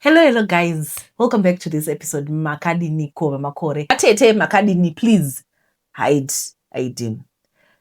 Hello hello guys, welcome back to this episode. Makadini ko vamakore atete makadini, please hide ID.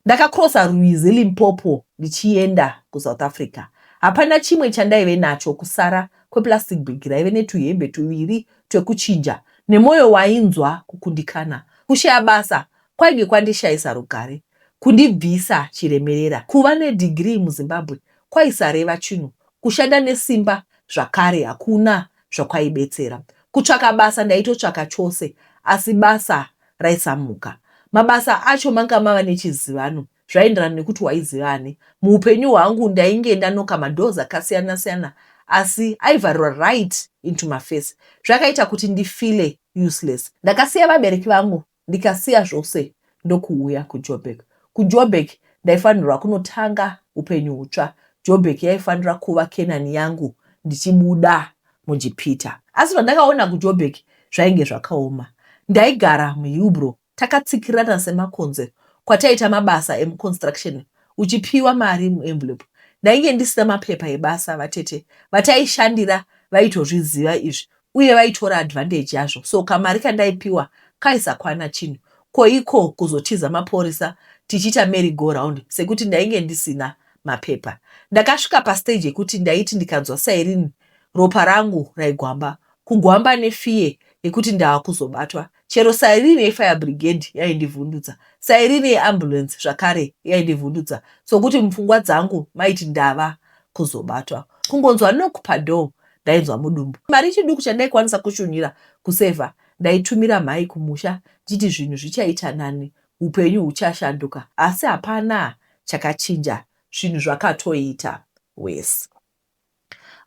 Ndakakrosa rwizi Limpopo ndichienda kuSouth Africa. Hapana chimwe chandaive nacho kusara kweplastic bag raive netuhembe tuviri twekuchinja nemwoyo wainzwa kukundikana. Kushaya basa kwainge kwandishayisa rugare, kundibvisa chiremerera. Kuva nedhigirii muZimbabwe kwaisareva chinhu Kushanda nesimba zvakare hakuna zvakwaibetsera. Kutsvaka basa ndaitotsvaka chose asi basa raisamuka. Mabasa acho manga mava nechizivano zvaenderana nekuti waiziva ani. Muhupenyu hwangu ndainge ndanoka madoors akasiyana siyana asi aivharirwa right into maface. Zvakaita kuti ndifeele useless. Ndakasiya vabereki vangu ndikasiya zvose ndokuuya kuJoburg. KuJoburg ndaifanirwa kunotanga upenyu hutsva. Joburg yaifanira kuva Kenani yangu ndichibuda muJipita. Asi zvandakaona kuJoburg zvainge zvakaoma. Ndaigara muHillbrow takatsikirana semakonzo kwataiita mabasa emuconstruction uchipiwa mari muenvelope. Ndainge ndisina mapepa ebasa vatete vataishandira vaitozviziva izvi uye vaitora advantage yazvo so kamari kandaipiwa kaisakwana chinhu ko iko kuzotiza maporisa tichiita merry go round sekuti ndainge ndisina mapepa. Ndakasvika pastage yekuti ndaiti ndikanzwa siren ropa rangu raigwamba kugwamba nefear yekuti ndava kuzobatwa Chero siren yefire brigade yaindivhundutsa, siren yeambulance zvakare yaindivhundutsa sokuti mupfungwa dzangu maiti ndava kuzobatwa. Kungonzwa knock padoor ndainzwa mudumbu. Mari chiduku chandaikwanisa kushunhira kusaver ndaitumira mhai kumusha ndichiti zvinhu zvichaita nani, hupenyu huchashanduka asi hapana chakachinja zvinhu zvakatoita worse.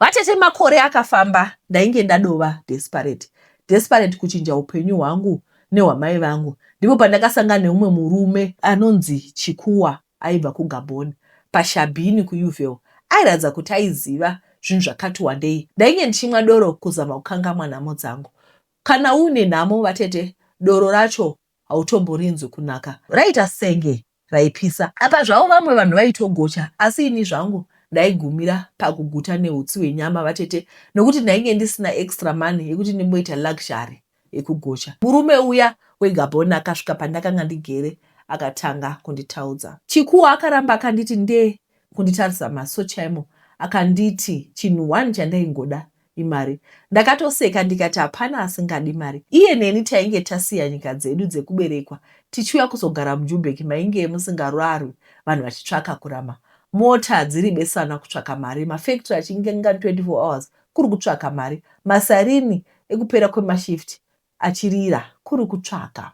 Vatete makore akafamba ndainge ndadova desperate desperate kuchinja upenyu hwangu nehwamai vangu ndipo pandakasangana neumwe murume anonzi Chikuwa aibva kuGabon paShabini kuUville airatidza kuti aiziva zvinhu zvakati wandei ndainge ndichimwa doro kuzama kukangamwa nhamo dzangu kana uine nhamo vatete doro racho hautomborinzwi kunaka raiita senge raipisa. Apa zvavo vamwe vanhu vaitogocha asi ini zvangu ndaigumira pakuguta nehutsi hwenyama vatete nokuti ndainge ndisina extra money yekuti ndimboita luxury yekugocha. Murume uya weGabon akasvika pandakanga ndigere akatanga kunditaudza. Chikuwo akaramba akanditi ndee kunditarisa maso chaimo akanditi chinhu one chandaingoda imari. Ndakatoseka ndikati hapana asingadi mari. Iye neni tainge tasiya nyika dzedu dzekuberekwa tichiuya kuzogara muJubheki mainge musingararwi vanhu vachitsvaka kurama. Mota dziri beswana kutsvaka mari, mafactory achinge angari 24 hours kuri kutsvaka mari, masarini ekupera kwemashift achirira kuri kutsvaka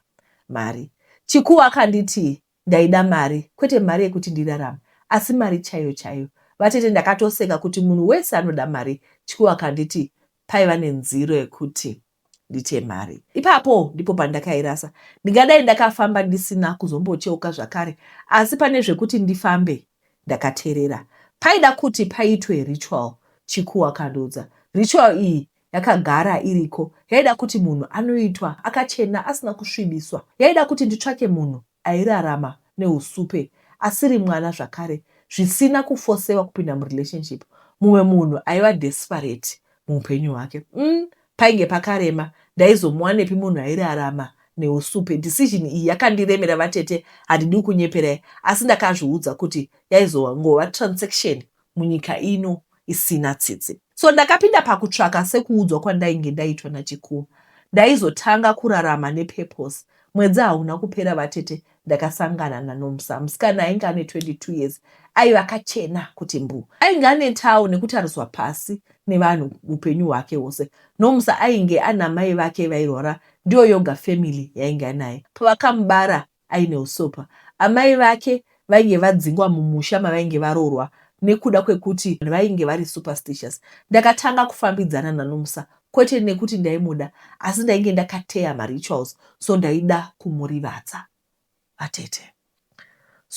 mari. Chikuwo akanditi Ndaida mari, kwete mari yekuti ndirarame asi mari chaiyo chaiyo. Vatete ndakatoseka kuti munhu wese anoda mari tyuu akanditi paiva nenziro yekuti ndite mari. Ipapo ndipo pandakairasa. Ndingadai ndakafamba ndisina kuzombocheuka zvakare asi pane zvekuti ndifambe ndakaterera. Paida kuti paitwe ritual Chikuu akandiudza. Ritual iyi Yakagara iriko. Yaida kuti munhu anoitwa akachena asina kusvibiswa. Yaida kuti nditsvake munhu airarama nehusupe asiri mwana zvakare zvisina kufosewa kupinda murelationship. Mumwe munhu aiva desperate muhupenyu hwake. Umm painge pakarema. Ndaizomuwanepi munhu airarama nehusupe. Decision iyi yakandiremera vatete handidiwi kunyeperai asi ndakazviudza kuti yaizongova transaction munyika ino isina tsitsi. So ndakapinda pakutsvaka sekuudzwa kwandainge ndaitwa naChikuwo. Ndaizotanga kurarama nepurpose. Mwedzi hauna kupera vatete ndakasangana naNomsa, musikana ainge ane 22 years aive akachena kuti mbuu. Ainge anetawo nekutariswa pasi nevanhu upenyu hwake hwose. Nomsa ainge anamai vake vairwara ndiyo yoga family yainge anaye. Pavakamubara aine husopa. Amai vake vainge vadzingwa mumusha mavainge varoorwa nekuda kwekuti vainge vari superstitious. Ndakatanga kufambidzana naNomsa kwete nekuti ndaimuda asi ndainge ndakateya marituals so ndaida kumurivadza. Vatete.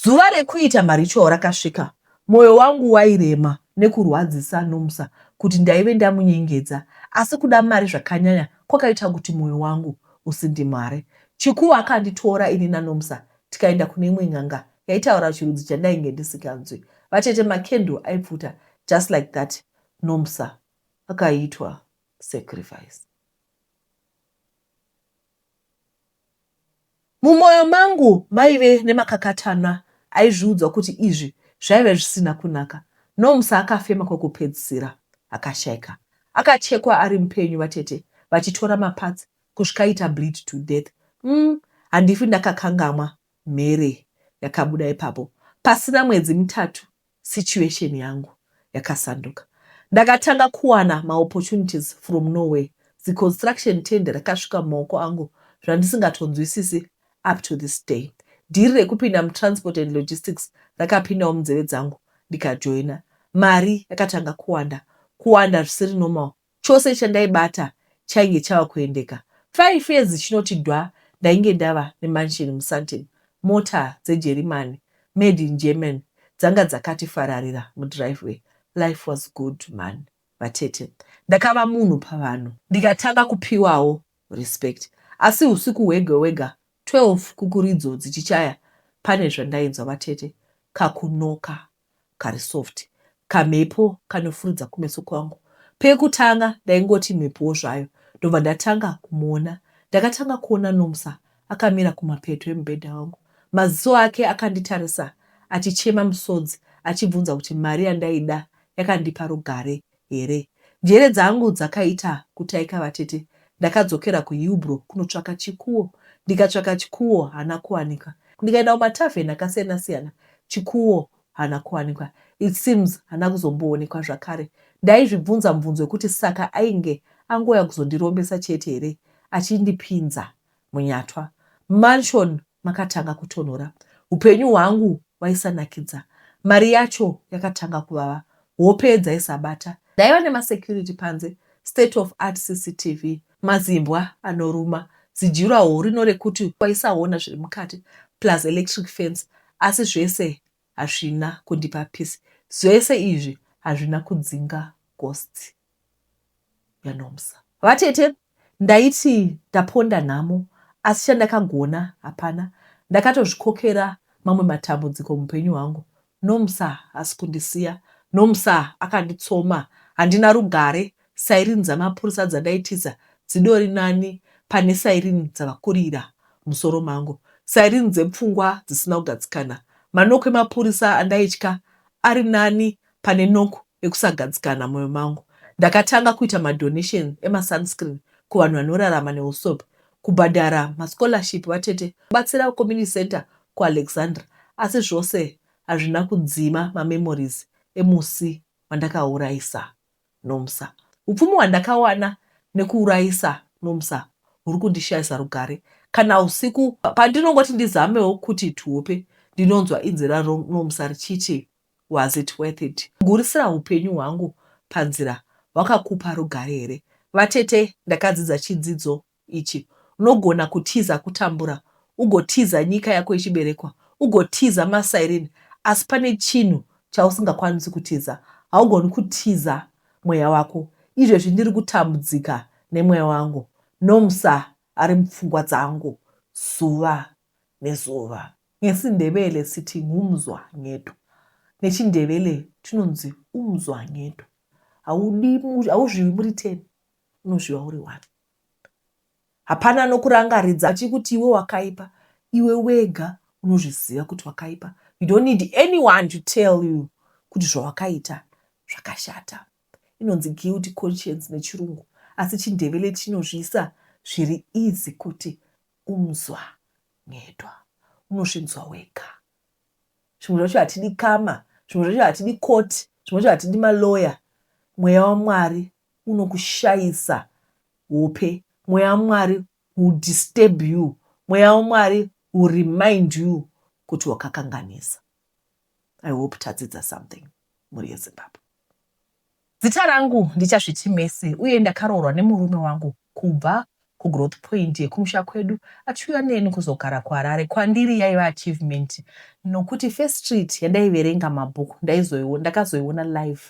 Zuva rekuita maritual rakasvika. Moyo wangu wairema nekurwadzisa Nomsa kuti ndaive ndamunyengedza asi kuda mari zvakanyanya kwakaita kuti moyo wangu usindimhare. Chikuwo akanditora ini naNomsa tikaenda kune imwe n'anga yaitaura chirudzi chandainge ndisinganzwi. Vatete macandle aipfuta just like that Nomsa akaitwa sacrifice. Mumoyo mangu maive nemakakatanwa aizviudzwa kuti izvi zvaive zvisina kunaka. Nomsa akafema kwekupedzisira akashaika. Akachekwa ari mupenyu vatete vachitora maparts kusvika aita bleed to death. Umm handifi ndakakangamwa mhere yakabuda ipapo. Pasina mwedzi mitatu Situation yangu yakasanduka ndakatanga kuwana ma opportunities from nowhere zi construction tender rakasvika mumaoko angu zvandisingatonzwisisi up to this day. Dhiri rekupinda mu transport and logistics rakapindawo munzeve dzangu ndikajoina. Mari yakatanga kuwanda kuwanda zvisiri normal Chose chandaibata chainge chava kuendeka. Five years dzichinoti dwa ndainge ndava nemansion muSandton. Mota dzeJerimani, made in Germany, dzanga dzakati fararira mudriveway. Life was good mhani vatete. Ndakava munhu pavanhu ndikatanga kupiwawo respect. Asi husiku hwega hwega 12 kukuridzo dzichichaya pane zvandainzwa vatete. Kakunoka kari soft kamhepo kanofurudza kumeso kwangu pekutanga ndaingoti mhepowo zvayo ndobva ndatanga kumuona ndakatanga kuona Nomsa akamira kumapeto emubhedha wangu maziso ake akanditarisa achichema musodzi achibvunza kuti mari yandaida yakandipa rugare here. Njere dzangu dzakaita kutaika vatete ndakadzokera kuHillbrow kunotsvaka chikuwo ndikatsvaka chikuwo hana kuwanikwa ndikaenda kumatavern akasiyana siyana chikuwo hana kuwanikwa it seems hana kuzomboonekwa zvakare ndaizvibvunza mubvunzo wekuti saka ainge angouya kuzondirombesa chete here achindipinza munyatwa mansion makatanga kutonhora. Hupenyu hwangu waisanakidza. Mari yacho yakatanga kuvava. Hope dzaisabata. Ndaiva nema security panze, state of art CCTV, mazimbwa anoruma, zidurawall rino rekuti waisaona zviri mukati plus electric fence asi zvese hazvina kundipa peace. Zvese izvi hazvina kudzinga ghosts. yaNomsa. Vatete ndaiti ndaponda nhamo asi chandakagona hapana ndakatozvikokera mamwe matambudziko mupenyu hwangu Nomsa hasi kundisiya Nomsa akanditsoma handina rugare siren dzamapurisa dzandaitiza dzidori nani pane siren dzavakurira musoro mangu siren dzepfungwa dzisina kugadzikana manock emapurisa andaitya ari nani pane nock ekusagadzikana mumoyo mangu, ndakatanga kuita madonations emasunscreen kuvanhu vanorarama nehusope, kubhadhara mascholarship vatete, kubatsira kuCommunity Centre kuAlexandra. Asi zvose hazvina kudzima mamemories emusi wandakaurayisa Nomsa. Hupfumi hwandakawana nekuurayisa Nomsa huri kundishayisa rugare. Kana husiku pandinongoti ndizamewo kuti tihope, ndinonzwa inzwi raNomsa richiti. Was it worth it? Kugurisira hupenyu hwangu panzira hwakakupa rugare here? Vatete, ndakadzidza chidzidzo ichi. Unogona kutiza kutambura, ugotiza nyika yako yechiberekwa, ugotiza masairini, asi pane chinhu chausingakwanisi kutiza. Haugoni kutiza mweya wako. Izvezvi ndiri kutambudzika nemweya wangu. Nomsa ari mupfungwa dzangu zuva nezuva. NgesiNdebele siti ngumzwa ngedu. NechiNdebele tinonzi umzwa ngedu. Haudi, hauzviwi muri ten, unozviwa uri one. Hapana anokurangaridza achikuti iwe wakaipa, iwe wega unozviziva kuti wakaipa. You don't need anyone to tell you kuti zvawakaita zvakashata. inonzi guilty conscience nechirungu asi chindevele chinozviisa zviri easy kuti umzwa nyedwa unozvinzwa wega zvimwe zvacho hatidi kama zvimwe zvacho hatidi court zvimwe zvacho hatidi maloya mweya wamwari unokushayisa hope mweya wamwari will disturb you mweya wamwari will remind you kuti wakakanganisa I hope tadzidza something mhuri yeZimbabwe. Zita rangu ndiChasviti Mercy uye ndakaroorwa nemurume wangu kubva kuGrowth Point yekumusha kwedu achiuya neni kuzogara kuHarare. Kwandiri yaiva achievement nokuti first street yandaiverenga mabhuku ndaizoiona ndakazoiona live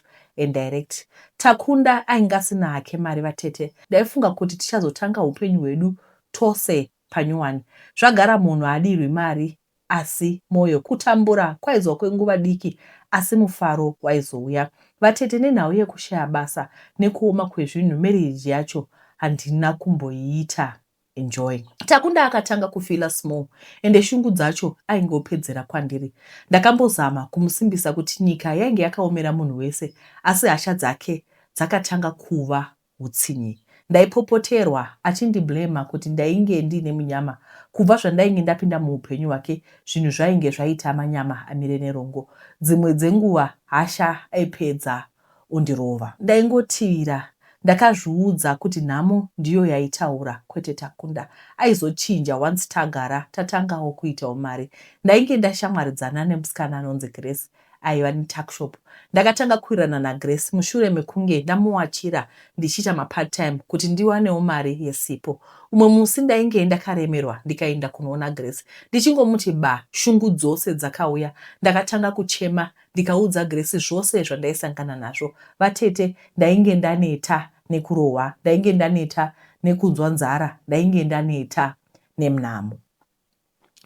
and direct. Takunda ainge asina hake mari vatete ndaifunga kuti tichazotanga hupenyu hwedu tose panyowani. Zvagara munhu haadirwi mari asi mwoyo. Kutambura kwaizova kwenguva diki asi mufaro waizouya. Vatete nenhau yekushaya basa nekuoma kwezvinhu marriage yacho handina kumboiita enjoy. Takunda akatanga kufeeler small ende shungu dzacho aingopedzera kwandiri. Ndakambozama kumusimbisa kuti nyika yainge yakaomera munhu wese asi hasha dzake dzakatanga kuva hutsinye. Ndaipopoterwa achindiblamer kuti ndainge ndiine munyama. Kubva zvandainge ndapinda muhupenyu hwake zvinhu zvainge zvaita manyama amire nerongo. Dzimwe dzenguva hasha aipedza ondirova. Ndaingotivira ndakazviudza kuti nhamo ndiyo yaitaura kwete Takunda. Aizochinja once tagara tatangawo kuitawo mari. Ndainge ndashamwaridzana nemusikana anonzi Grace aiva netuckshop. Ndakatanga kuwirirana naGrace mushure mekunge ndamuwachira ndichiita mapart-time kuti ndiwanewo mari yesipo. Umwe musi ndainge ndakaremerwa ndikaenda kunoona Grace. Ndichingomuti ba, shungu dzose dzakauya. Ndakatanga kuchema ndikaudza Grace zvose zvandaisangana nazvo. Vatete, ndainge ndaneta nekurohwa, ndainge ndaneta nekunzwa nzara, ndainge ndaneta nemnamo.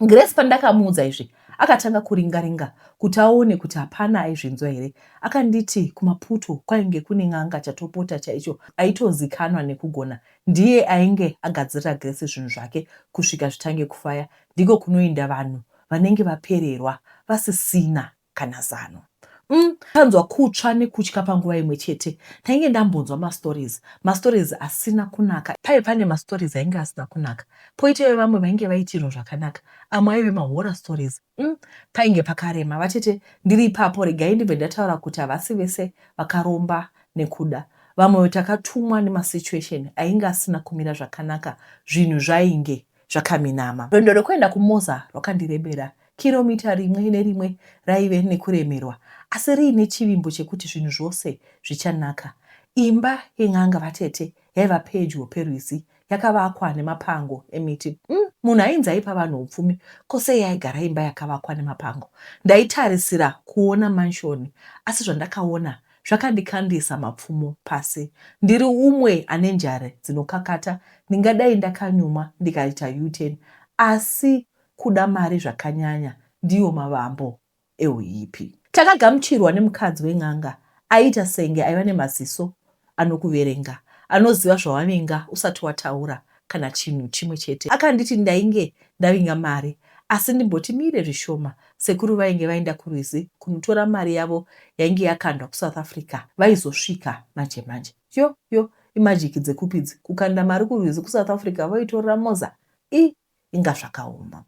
Grace pandakamuudza izvi akatanga kuringa ringa kuti aone kuti hapana aizvinzwa here. Akanditi kumaputo kwainge kune n'anga chatopota chaicho aitozikanwa nekugona ndiye ainge agadzirira Grace zvinhu zvake kusvika zvitange kufaya ndiko kunoinda vanhu vanenge vapererwa vasisina kana zano. Umm tanzwa kutsva nekutya panguva imwe chete. Ndainge ndambonzwa mastories, mastories asina kunaka. Paive pane mastories ainge asina kunaka poita evamwe vainge vaitirwa zvakanaka amwe aive mahorror stories. Umm painge pakarema. Vatete ndiri ipapo regai ndibve ndataura kuti havasi vese vakaromba nekuda. Vamwewo takatumwa nemasituation ainge asina kumira zvakanaka zvinhu zvainge zvakaminama. Rwendo rwekuenda kuMoza rwakandirebera Kiromita rimwe nerimwe raive nekuremerwa asi riine chivimbo chekuti zvinhu zvose zvichanaka. Imba yen'anga vatete yaiva pedyo perwizi yakavakwa nemapango emiti. Umm munhu ainzi aipa vanhu upfumi ko sei aigara imba yakavakwa nemapango. Ndaitarisira kuona manshoni asi zvandakaona zvakandikandisa mapfumo pasi. Ndiri umwe ane njare dzinokakata ndingadai ndakanyumwa ndikaita U-turn asi Kuda mari zvakanyanya ndiwo mavambo ehuipi. Takagamuchirwa nemukadzi wen'anga aiita senge aiva nemaziso anokuverenga, anoziva zvawavinga usati wataura kana chinhu chimwe chete. Akanditi ndainge ndavinga mari asi ndimboti mire zvishoma, sekuru vainge vaenda kurwizi kunotora mari yavo yainge yakandwa kuSouth Africa vaizosvika manje manje. Yo yo, imajiki dzekupi idzi, kukanda mari kurwizi kuSouth Africa voitorera Moza? Ii. inga zvakaoma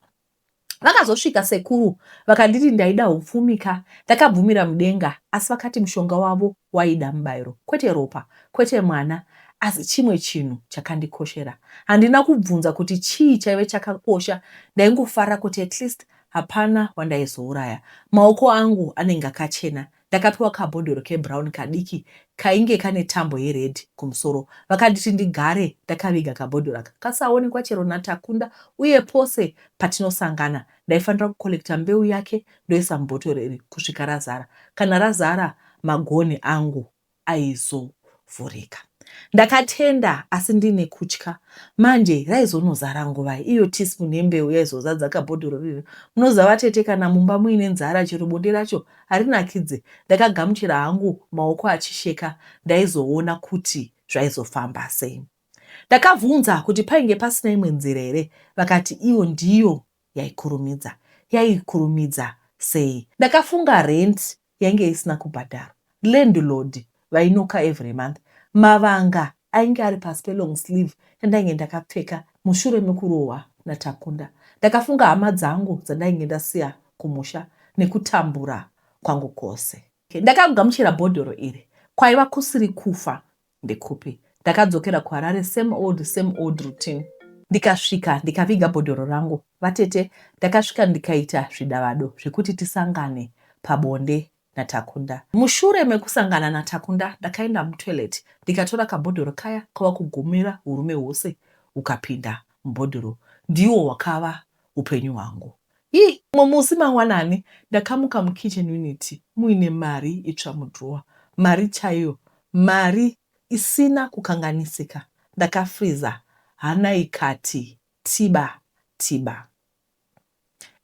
vakazosvika sekuru vakanditi ndaida hupfumi ka ndakabvumira mudenga asi vakati mushonga wavo waida mubairo kwete ropa kwete mwana asi chimwe chinhu chakandikoshera handina kubvunza kuti chii chaive chakakosha ndaingofara kuti at least hapana wandaizouraya maoko angu anenge akachena Ndakapiwa kabhodhoro kebrown kadiki kainge kane tambo yered kumusoro. Vakanditi ndigare ndakaviga kabhodhoro aka kasaonekwa chero naTakunda uye pose patinosangana ndaifanira kucollecta mbeu yake ndoisa mubhotoro iri kusvika razara. Kana razara magonhi angu aizovhurika. Ndakatenda asi ndine kutya. Manje raizonozara nguvai iyo teaspoon yembeu yaizozadza kabhodhoro riri? Munoziva vatete kana mumba muine nzara chero bonde racho harinakidze. Ndakagamuchira hangu maoko achisheka ndaizoona kuti zvaizofamba sei. Ndakabvunza kuti painge pasina imwe nzira here vakati iyo ndiyo yaikurumidza. Yaikurumidza sei? Ndakafunga rent yainge isina kubhadharwa landlord vainoka every month mavanga ainge ari pasi pelong sleeve yandainge ndakapfeka mushure mekurohwa naTakunda ndakafunga hama dzangu dzandainge ndasiya kumusha nekutambura kwangu kose ndakagamuchira bhodhoro iri kwaiva kusiri kufa Ndekupi? Ndakadzokera kuHarare same old same old routine. Ndikasvika ndikaviga bhodhoro rangu vatete ndakasvika ndikaita zvidavado zvekuti tisangane pabonde naTakunda. Mushure mekusangana naTakunda ndakaenda mutoilet ndikatora kabhodhoro kaya kava kugumira urume hwose hukapinda mubhodhoro ndiwo hwakava hupenyu hwangu. Hi, mumwe musi mangwanani ndakamuka mukitchen unit muine mari itsva mudrawer. Mari chaiyo, mari isina kukanganisika. Ndakafreezer hana ikati tiba tiba.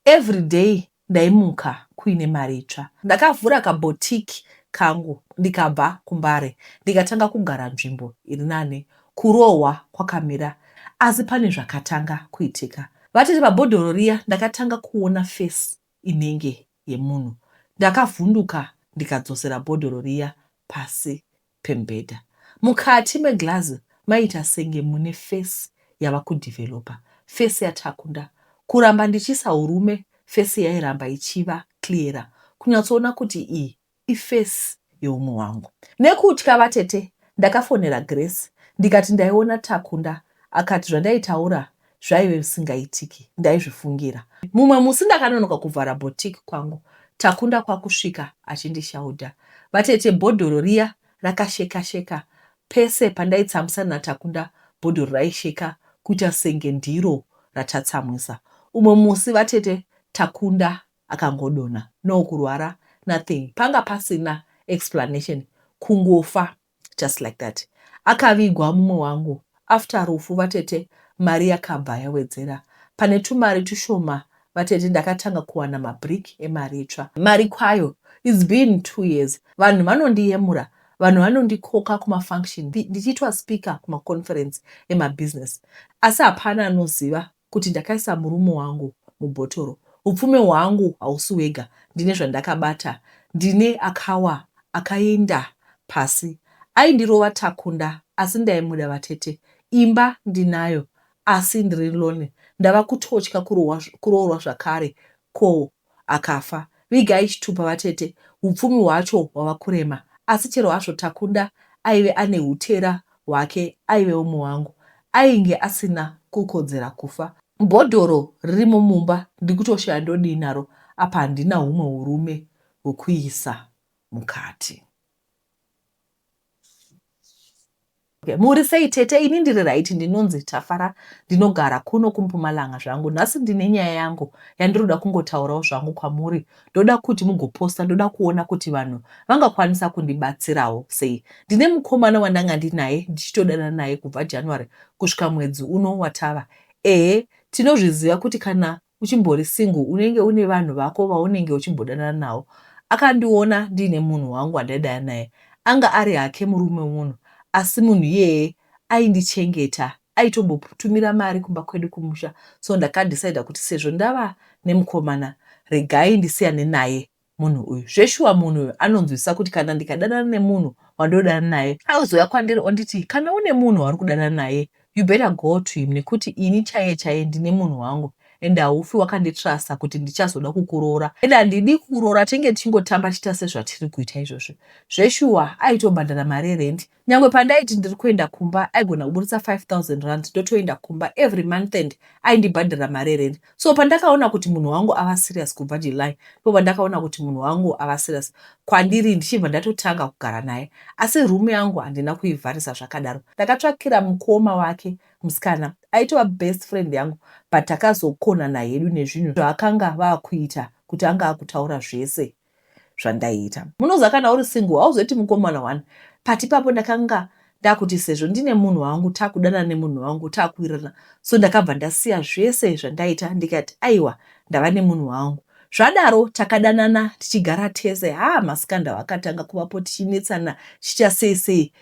Everyday ndaimuka kuine mari itsva. Ndakavhura kaboutique kangu ndikabva kuMbare ndikatanga kugara nzvimbo iri nane Kurohwa kwakamira asi pane zvakatanga kuitika. Vatete pabhodhoro riya ndakatanga kuona face inenge yemunhu. Ndakavhunduka ndikadzosera bhodhoro riya pasi pemubhedha. Mukati meglass maiita senge mune face yava kudeveloper. Face yaTakunda. Kuramba ndichiisa urume face yairamba ichiva clearer kunyatsoona kuti iyi ifesi yeumwe wangu. Nekutya vatete ndakafonera Grace ndikati ndaiona Takunda akati zvandaitaura zvaive zvisingaitiki ndaizvifungira. Mumwe musi ndakanonoka kuvhara boutique kwangu Takunda kwakusvika achindishaudha. Vatete bhodhoro riya rakasheka sheka pese pandaitsamwisana naTakunda bhodhoro raisheka kuita senge ndiro ratatsamwisa. Umwe musi vatete Takunda akangodonha no kurwara nothing panga pasina explanation kungofa just like that akavigwa mumwe wangu after rufu vatete mari yakabva yawedzera pane tumari tushoma vatete ndakatanga kuwana mabrick emari itsva mari kwayo its been two years vanhu vanondiyemura vanhu vanondikoka kumafunction ndichiitwa speaker kumaconference emabusiness asi hapana anoziva kuti ndakaisa murume wangu mubhotoro hupfume hwangu hausi wega ndine zvandakabata ndine akawa akainda pasi aindirova takunda asi ndaimuda vatete imba ndinayo asi ndiri lonely ndava kutotya kuroorwa zvakare ko akafa. Vigai chitupa vatete hupfumi hwacho hwava kurema asi chero hazvo Takunda aive ane hutera hwake aive umwe wangu ainge asina kukodzera kufa. Bhodhoro ririmo mumba ndikutoshaya ndodii naro apa handina humwe hurume hwekuisa mukati. Okay, muri sei tete? Ini ndiri right, ndinonzi Tafara, ndinogara kuno kuMpumalanga zvangu. Nhasi ndine nyaya yangu yandinoda kungotaurawo zvangu kwamuri. Ndoda kuti mugoposta, ndoda kuona kuti vanhu vangakwanisa kundibatsirawo sei. Ndine mukomana wandanga ndinaye ndichitodana naye kubva January kusvika mwedzi uno watava. Ehe, tinozviziva kuti kana Uchimbori single unenge une vanhu vako vaunenge uchimbodanana navo. Akandiona ndiine munhu wangu wandaidana naye. Anga ari hake murume wemunhu asi munhu iyeye aindichengeta. Aitombotumira mari kumba kwedu kumusha so ndakadecider kuti sezvo ndava nemukomana regai ndisiyane naye munhu uyu zveshuwa munhu uyu anonzwisisa kuti kana ndikadanana nemunhu wandodana naye auzouya kwandiri onditi kana une munhu wauri kudanana naye you better go to him nekuti ini chaiye chaiye ndine munhu wangu ende haufi wakanditrasa kuti ndichazoda kukuroora ende handidi kukuroora tenge tichingotamba tiita sezvatiri kuita izvozvo zveshuwa aitobhadhara mari erendi Nyangwe pandaiti ndiri kuenda kumba aigona kuburitsa 5000 rand ndotoenda kumba every month and aindibhadhira mari yerent. So pandakaona kuti munhu wangu ava serious kubva July ndipo pandakaona kuti munhu wangu ava serious kwandiri ndichibva ndatotanga kugara naye. Asi room yangu handina kuivharisa zvakadaro. Ndakatsvakira mukoma wake musikana aitova best friend yangu but takazokonana hedu nezvinhu zvaakanga ava kuita kuti anga akutaura zvese. zvandaiita munoziva kana uri single hauzoiti mukomana wani but ipapo ndakanga ndakuti sezvo ndine munhu wangu takudana nemunhu wangu takuwirirana so ndakabva ndasiya zvese zvandaita ndikati aiwa ndava nemunhu wangu zvadaro takadanana tichigara tese haa masikanda wakatanga kuvapo tichinetsana chicha sei sei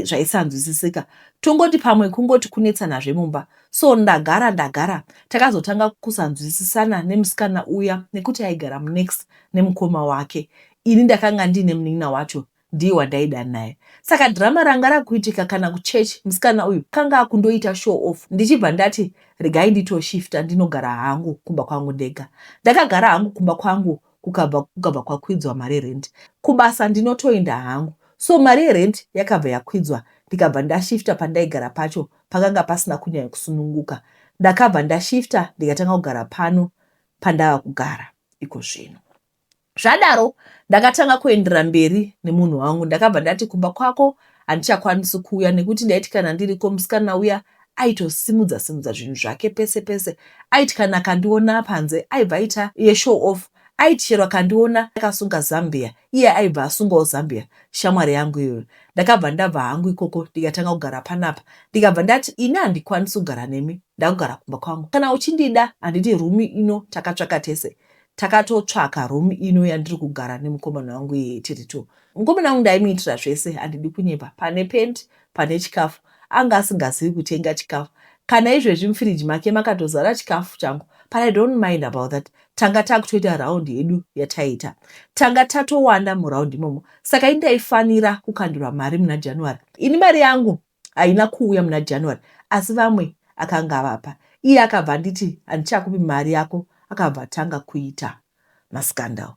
zvaisanzwisisika tongoti pamwe kungoti kunetsanazve mumba So ndagara ndagara takazotanga kusanzwisisana nemusikana uya nekuti aigara munext nemukoma wake. Ini ndakanga ndiine munin'ina wacho ndiye wandaida naye. Saka drama ranga rakuitika kana kuchurch musikana uyu kanga akundoita show off ndichibva ndati regai nditoshifta ndinogara hangu kumba kwangu ndega. Ndakagara hangu kumba kwangu kukabva kukabva kwakwidzwa mari yerent. Kubasa ndinotoenda hangu. So mari yerent yakabva yakwidzwa ndikabva ndashifta pandaigara pacho pakanga pasina kunyanya kusununguka. Ndakabva ndashifta ndikatanga kugara pano pandava kugara iko zvino. Zvadaro ndakatanga kuendera mberi nemunhu wangu. Ndakabva ndati kumba kwako handichakwanisi kuuya nekuti ndaiti kana ndiriko musikana uya aitosimudza simudza zvinhu zvake pese pese aiti kana akandiona panze aibva aita yeshow off Aiti chero akandiona ndakasunga zambia iye aibva asungawo zambia shamwari yangu iyoyo. Ndakabva ndabva hangu ikoko ndikatanga kugara panapa ndikabva ndati ini handikwanisi kugara nemi ndakugara kumba kwangu kana uchindida handiti room ino takatsvaka tese takatotsvaka room ino yandiri kugara nemukomana wangu iye tiri two. Mukomana wangu ndaimuitira zvese handidi kunyepa pane pent pane chikafu anga asingazivi kutenga chikafu kana izvezvi mufiriji make makatozara chikafu changu but I don't mind about that tanga takutoita round yedu yataiita tanga tatowanda muround imomo saka ini ndaifanira kukandirwa mari muna january ini mari yangu haina kuuya muna january asi vamwe akanga avapa iye akabva anditi handichakupi mari yako akabva atanga kuita mascandal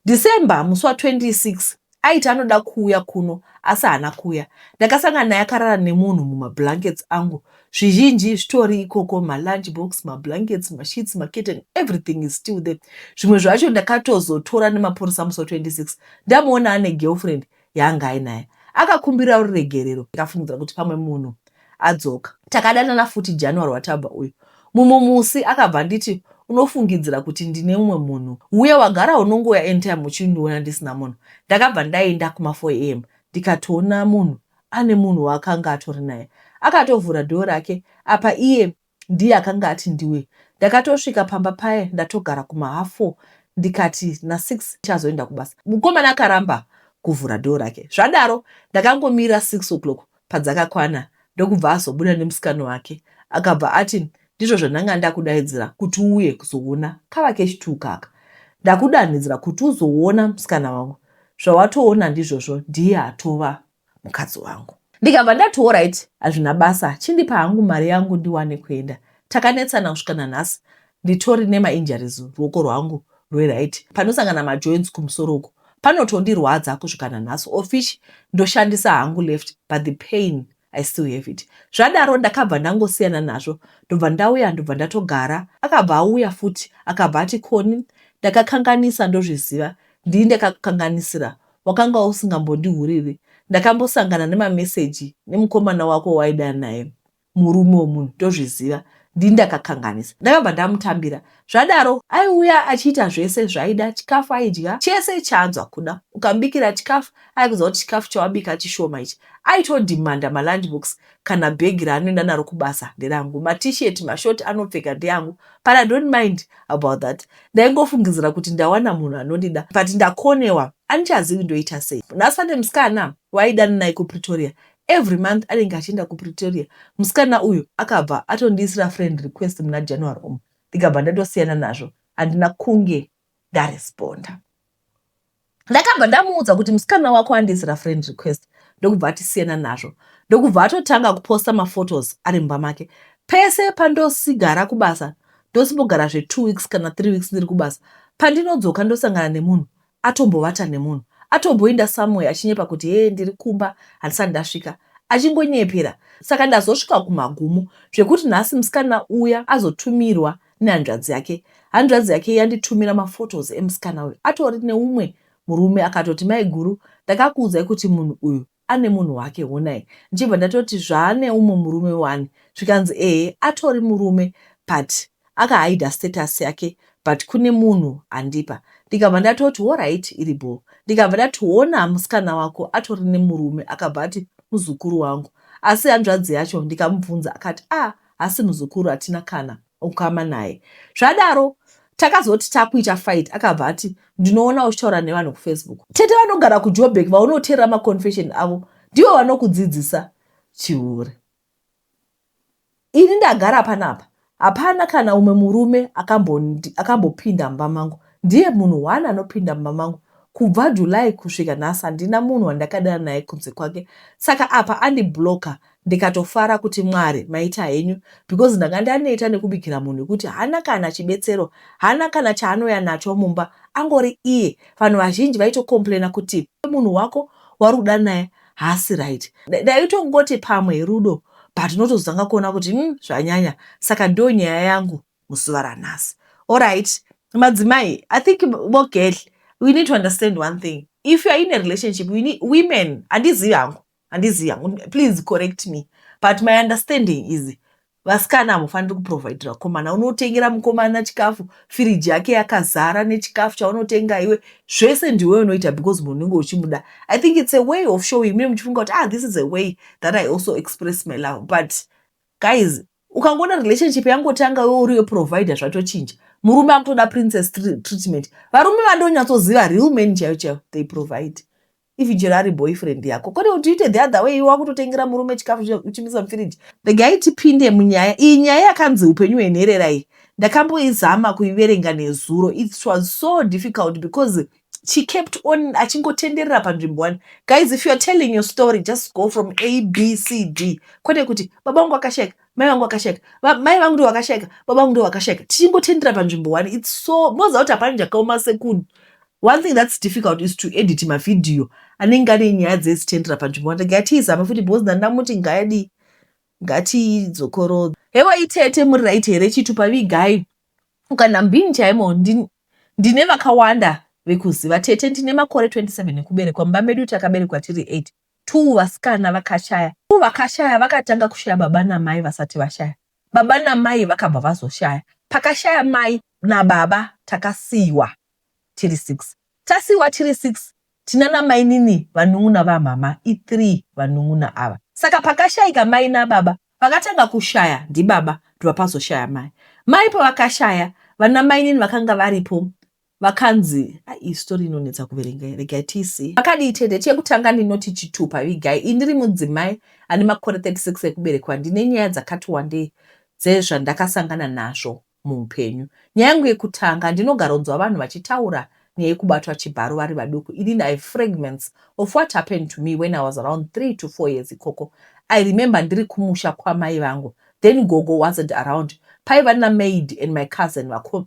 december musi wa 26 Aiti anoda kuuya kuno asi haana kuuya. Ndakasangana naye akarara nemunhu mumablankets angu. Zvizhinji zvitori ikoko, malunch box, mablankets, masheets, makitten, everything is still there. Zvimwe zvacho ndakatozotora nemapurisa musi wa 26 ndamuona ane girlfriend yaanga ainaye. Akakumbirawo ruregerero ndikafungidzira kuti pamwe munhu adzoka. Takadanana futi January watabva uyu. Mumwe musi akabva anditi unofungidzira kuti ndine umwe munhu uye wagara unongouya anytime uchindiona ndisina munhu. Ndakabva ndaenda kuma 4am ndikatoona munhu ane munhu waakanga atori naye. Akatovhura door rake apa iye ndiye akanga ati ndiwe. Ndakatosvika pamba paye ndatogara kuma half four ndikati na six ndichazoenda kubasa. Mukomana akaramba kuvhura door rake zvadaro ndakangomira six o'clock padzakakwana ndokubva azobuda nemusikana wake akabva ati ndizvo zvandanga ndakudaidzira kuti uuye kuzoona kava keshi two kaka ndakudanhidzira kuti uzoona musikana wangu zvawatoona ndizvozvo ndiye atova mukadzi wangu ndikabva ndati orit hazvina basa chindipa hangu mari yangu ndiwane kuenda takanetsana kusvika nanhasi nditori nemainjuries ruoko rwangu rweright panosangana majoins kumusoro uku panotondirwadza kusvika nanhasi ofish ndoshandisa hangu left but the pain i still have it zvadaro ndakabva ndangosiyana nazvo ndobva ndauya ndobva ndatogara akabva auya futi akabva ati koni ndakakanganisa ndozviziva ndii ndakakukanganisira wakanga usingambondihuriri ndakambosangana nemameseji nemukomana wako waida naye murume wemunhu ndozviziva ndini ndakakanganisa ndakabva ndamutambira zvadaro aiuya achiita zvese zvaida chikafu aidya chese chaanzwa kuda ukambikira chikafu aikuziva kuti chikafu chawabika chishoma ichi aitodimanda malandbooks kana bag raanoenda naro kubasa nderangu matishet mashort anopfeka ndeangu but i don't mind about that ndaingofungidzira kuti ndawana munhu anondida but ndakonewa andichazivi ndoita sei nhasi pane musikana waidana naye kupretoria every month anenge achienda kupretoria musikana uyu akabva atondiisira friend request muna january umu ndikabva ndatosiyana nazvo handina kunge ndaresponda ndakabva ndamuudza kuti musikana wako andiisira friend request ndokubva atisiyana nazvo ndokubva atotanga kuposta maphotos ari mumba make pese pandosigara kubasa ndosimbogara zvetwo weeks kana three weeks ndiri kubasa pandinodzoka ndosangana nemunhu atombovata nemunhu atomboinda samwe achinyepa kuti hee ndiri kumba handisati ndasvika achingonyepera saka ndazosvika kumagumo zvekuti nhasi musikana uya azotumirwa nehanzvadzi yake hanzvadzi yake yanditumira maphotos emusikana uyu atori neumwe murume akatoti maiguru ndakakuudzai kuti munhu uyu ane munhu wake honai ndichibva ndatoti zvaane umwe murume wani zvikanzi ehe atori murume but akahaida status yake but kune munhu andipa ndikabva ndatoti horit iri bho ndikabva ndati hona musikana wako atori nemurume akabva ati muzukuru wangu asi hanzvadzi yacho ndikamubvunza akati a ah, asi muzukuru hatina kana ukama naye. Zvadaro takazoti takuita fight akabva ati ndinoona uchitaura nevanhu kufacebook. Tete vanogara kujoburg vaunoteerera maconfession avo ndivo vanokudzidzisa chihure. Ini ndagara panapa hapana kana umwe murume akambopinda mumba mangu ndiye munhu one anopinda mumba mangu kubva july kusvika nhasi handina munhu wandakadana naye kunze kwake saka apa andiblocker ndikatofara kuti Mwari maita henyu because ndanga ndaneta nekubikira munhu wekuti haana kana chibetsero, haana kana chaanouya nacho mumba angori iye. Vanhu vazhinji vaitocomplainer kuti munhu wako wauri kuda naye haasi right. Ndaitongoti pamwe rudo but unotozotanga kuona kuti umm zvanyanya. Saka ndiyo nyaya yangu muzuva ranhasi. Alright madzimai, I think vogedhle we need to understand one thing if you are in a relationship we need, women handizivi hangu handizivi hangu please correct me but my understanding is vasikana hamufaniri kuprovidira komana unotengera mukomana chikafu firiji yake yakazara nechikafu chaunotenga iwe zvese ndiwe unoita because munhu unenge uchimuda i think its a way of showing mune muchifunga kuti ah this is a way that i also express my love but guys ukangoona relationship yangotanga iwe uriwe provider zvatochinja murume akutoda princess treatment varume vandonyatsoziva real man chaiyo chaiyo they provide If chero ari boyfriend yako kwete kuti uite the other way iwe wakutotengera murume chikafu uchimisa mufiriji. Regai tipinde munyaya iyi. Nyaya yakanzi upenyu hwenherera iyi ndakamboizama kuiverenga nezuro. It was so difficult because she kept on achingotenderera panzvimbo one. Guys if you are telling your story just go from A, B, C, D. Kwete kuti baba wangu akashaika mai vangu vakashaika mai vangu ndovakashaika baba vangu ndovakashaika tichingotendera panzvimbo one its so moziva kuti hapana chakaoma sekuno one thing thats difficult is to edit mavhidhiyo anenge ane nyaya dzezitendera panzvimbo one ngatiizame futi because ndandamuti ngaadii ngatiidzokorodza hewa itete muri right here chitupa vigai ukana mbini chaimo ndine vakawanda vekuziva tete ndine makore 27 ekuberekwa mumba medu takaberekwa tiri 8 Two vasikana vakashaya. Two vakashaya vakatanga kushaya baba namai vasati vashaya. Baba namai vakabva vazoshaya. Pakashaya mai nababa takasiiwa tiri six. Tasiiwa tiri six tinana mainini vanun'una vamhamha i three vanun'una ava. Saka pakashaika mai nababa vakatanga kushaya ndibaba ndobva pazoshaya mai. Mai pavakashaya vana mainini vakanga varipo Vakanzi ayi story inonetsa kuverenga regai tiisei pakadii tete. Chekutanga ndinoti chitupa vigai iyi ndiri mudzimai ane makore 36 ekuberekwa ndine nyaya dzakati wandei dzezvandakasangana nazvo muupenyu. Nyaya yangu yekutanga ndinogaronzwa vanhu vachitaura nyaya yekubatwa chibharo vari vaduku inini I have fragments of what happened to me when I was around three to four years ikoko I remember ndiri kumusha kwamai vangu then gogo wasn't around paiva namaid and my cousin vakomana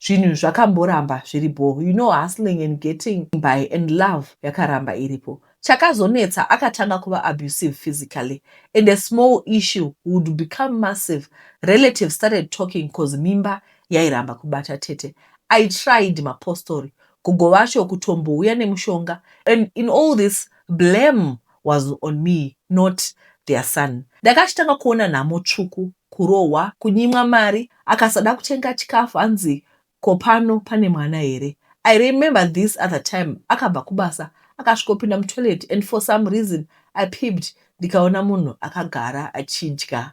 Zvinhu zvakamboramba zviri bho you know hustling and getting by and love yakaramba iripo. Chakazonetsa akatanga kuva abusive physically and a small issue would become massive relatives started talking cause mimba yairamba kubata tete. I tried mapostori gogo vacho kutombouya nemushonga and in all this blame was on me not their son. Ndanga achitanga kuona nhamo tsvuku, kurohwa, kunyimwa mari, akasada kutenga chikafu hanzi ko pano pane mwana here. I remember this other time akabva kubasa akasvikopinda mutoilet and for some reason I peeped ndikaona munhu akagara achidya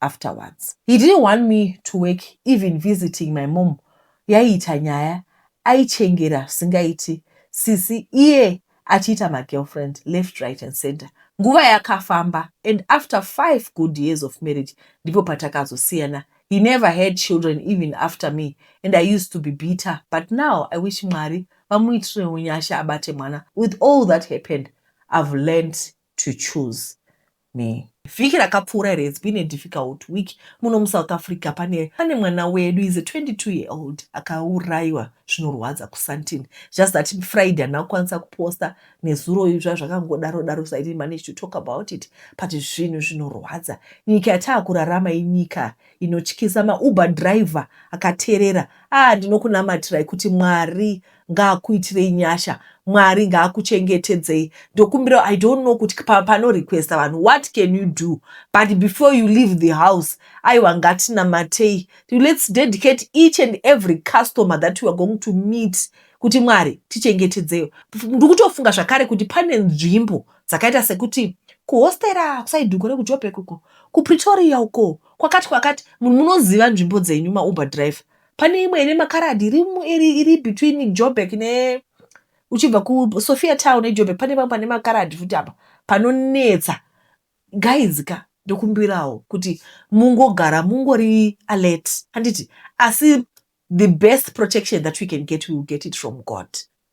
afterwards. He didn't want me to work even visiting my mom yaiita nyaya aichengera zvisingaiti sisi iye achiita magirlfriend left right and center. Nguva yakafamba and after five good years of marriage ndipo patakazosiyana. He never had children even after me and I used to be bitter but now I wish Mwari vamuitirewo nyasha abate mwana with all that happened I've learnt to choose me. Vhiki rakapfuura iri has been a difficult week muno muSouth Africa. Pane pane mwana wedu is a 22 year old akauraiwa zvinorwadza kuSandton. Just that Friday handina kukwanisa kuposta nezuro izva zvakangodaro daro so I didn't manage to talk about it but zvinhu zvinorwadza. Nyika yataakurarama inyika inotyisa. MaUber driver akaterera ah ndinokunamatirai kuti Mwari ngaakuitirei nyasha mwari ngaakuchengetedzei ndokumbira i don't know kuti pano requesta vanhu what can you do but before you leave the house aiwa ngatinamatei let's dedicate each and every customer that weare going to meet kuti mwari tichengetedzeyo ndikutofunga zvakare kuti pane nzvimbo dzakaita sekuti kuhostera kusaiduko rekujobhek uko kupretoria uko kwakati kwakati munhu munoziva nzvimbo dzenyu mauber driver Pane imwe ine makaradhi iri mu- iri iri between Joburg ne uchibva ku Sophia Town ne Joburg pane pamwe pane makaradhi futi apa panonetsa. Guys ka ndokumbirawo kuti mungogara mungori alert handiti asi the best protection that we can get we will get it from God.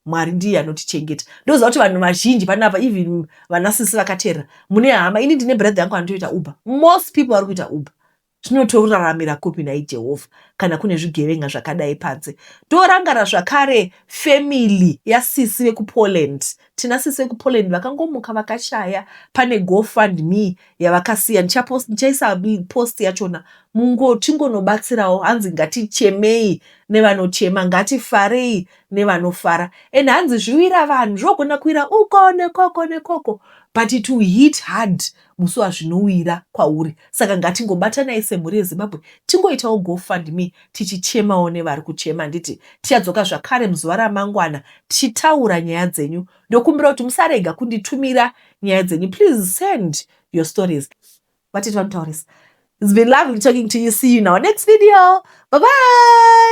Mwari ndiye anotichengeta. Ndoziva kuti vanhu vazhinji panapa even vana sisi vakateerera mune hama ini ndine brother yangu anotoita Uber. Most people vari kuita Uber. Tinotoraramira kupi nhai Jehovha kana kune zvigevenga zvakadai panze. Ndorangarira zvakare family yasisi vekuPoland. Tina sisi vekuPoland vakangomuka vakashaya pane go fund me yavakasiya. Ndichapost, ndichaisa post yachona. Mungo tingonobatsirawo hanzi ngatichemei nevanochema ngatifarei nevanofara. And hanzi zviwira vanhu zvogona kuwira uko nekoko nekoko but it will hit hard musi wazvinowira kwauri saka ngatingobatanai semhuri yeZimbabwe tingoitawo go fund me tichichemawo nevari kuchema handiti tichadzoka zvakare muzuva ramangwana tichitaura nyaya dzenyu ndokumbira kuti musarega kunditumira nyaya dzenyu please send your stories vatiti vanotaurisa It's been lovely talking to you. See you in our next video. Bye bye.